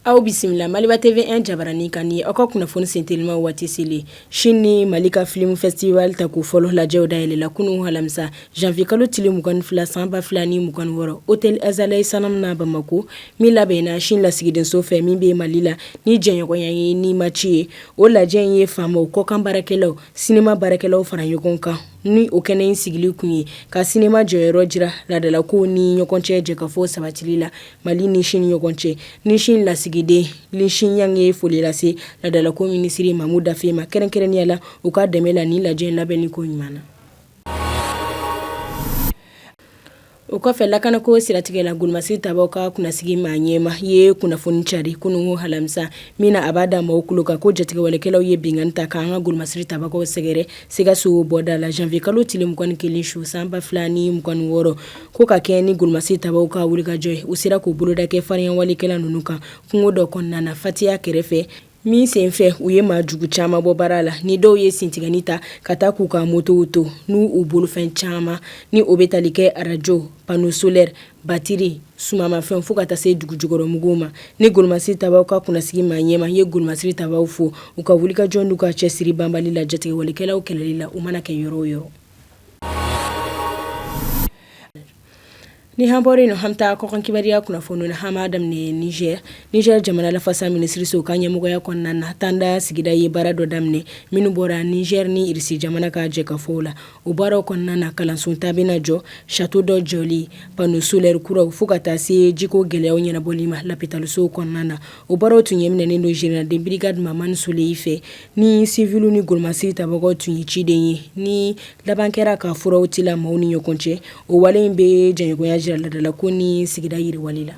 Aw bisimila Maliba TV 1 jabaranin kan ni aw ka kunnafoni sentelima waati selen sini ni mali ka filim festival tako fɔlɔ lajɛw da yɛlɛla kunun alamisa janvier kalo tile 22 sanba fila ni mugan wɔɔrɔ hôtel Azalaï Salam na bamakɔ min labɛnna sini lasigidenso fɛ min bɛ mali la ni jɛɲɔgɔnya ye ni maci ye o lajɛ in ye faamaw kɔkan baarakɛlaw sinema baarakɛlaw fara ɲɔgɔn kan ni o kɛnɛ in sigili kun ye ka sinema jɔyɔrɔ jira ladala ko ni ɲɔgɔn cɛ jɛkafɔ sabatili la mali ni sini ni ɲɔgɔn cɛ ni sini lasigiden Li Xiang ye foli lase ladala ko minisiri Mamu Dafe ma kɛrɛnkɛrɛnnenya la u ka dɛmɛ la ni lajɛ labɛnni ko ɲuman na O kɔfɛ lakana ko siratigɛ la golomasiri tabaw ka kunnasigi maa ɲɛmaa ye kunnafoni cari kunun alamisa min na a b'a da maaw kulo kan ko jatigɛwalekɛlaw ye binkanni ta k'an ka golomasiri tabagaw sɛgɛrɛ Sikaso bɔda la janvier kalo tile 21 su sanba fila ni mugan wɔɔrɔ ko ka kɛ ni golomasiri tabaw ka wulikajɔ ye u sera k'u boloda kɛ farinya walekɛla ninnu kan kungo dɔ kɔnɔna na fatiya kɛrɛfɛ min sen fɛ u ye maa jugu caman bɔ baara la ni dɔw ye sintigɛni ta ka taa k'u ka motow to n'u bolofɛn caman ni o bɛ tali kɛ arajo pano solɛrɛ batiri sumamafɛn fo ka taa se dugu jukɔrɔmuguw ma ni golomasiri tabaw ka kunnasigi maa ɲɛmaa ye golomasiri tabaw fo u ka wulikajɔ n'u ka cɛsiri banbali la jatigɛwalekɛlaw kɛlɛli la u mana kɛ yɔrɔ o yɔrɔ Ni an bɔra o la an b'a ta kɔkan kibaruya kunnafoni na an b'a daminɛ Niger Niger jamana lafasa minisiriso ka ɲɛmɔgɔya kɔnɔna na tanda sigida ye baara dɔ daminɛ minnu bɔra Niger ni Irisi jamana ka jɛkafɔw la o baaraw kɔnɔna na kalanso tan bɛna jɔ sato dɔ jɔli pano solɛrɛ kuraw fo ka taa se jiko gɛlɛya ɲɛnabɔli ma lapitalisow kɔnɔna na o baaraw tun ɲɛminɛnen don général de brigade mamani sule fɛ ni siviliw ni golomasiri tabagaw tun ye ciden ye ni laban kɛra ka furaw tila maaw ni ɲɔgɔn cɛ o wale in bɛ jɛɲɔgɔnya jira ladala ko ni sigida yiriwali la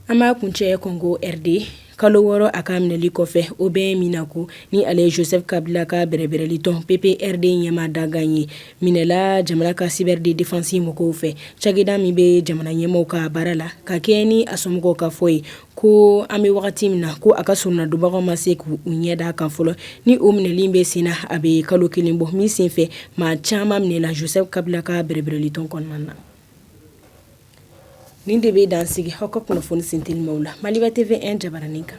an b'a kuncɛ Congo RD kalo wɔɔrɔ a ka minɛli kɔfɛ Aubin Minaku ni ale ye Joseph Kabila ka bɛrɛbɛrɛli tɔn PPRD ɲɛmaa dankan ye minɛla jamana ka cyberdéfense mɔgɔw fɛ cakɛda min bɛ jamana ɲɛmɔgɔ ka baara la ka kɛ ni a somɔgɔw ka fɔ ye ko an bɛ wagati min na ko a ka soronadonbagaw ma se k' u ɲɛ d' a kan fɔlɔ ni o minɛli bɛ sen na a bɛ kalo kelen bɔ min senfɛ maa caman minɛla Joseph Kabila ka bɛrɛbɛrɛli tɔn kɔnɔna na nin de bɛ dan sigi aw ka kunnafoni sentelimaw la Maliba TV 1 jabaranin kan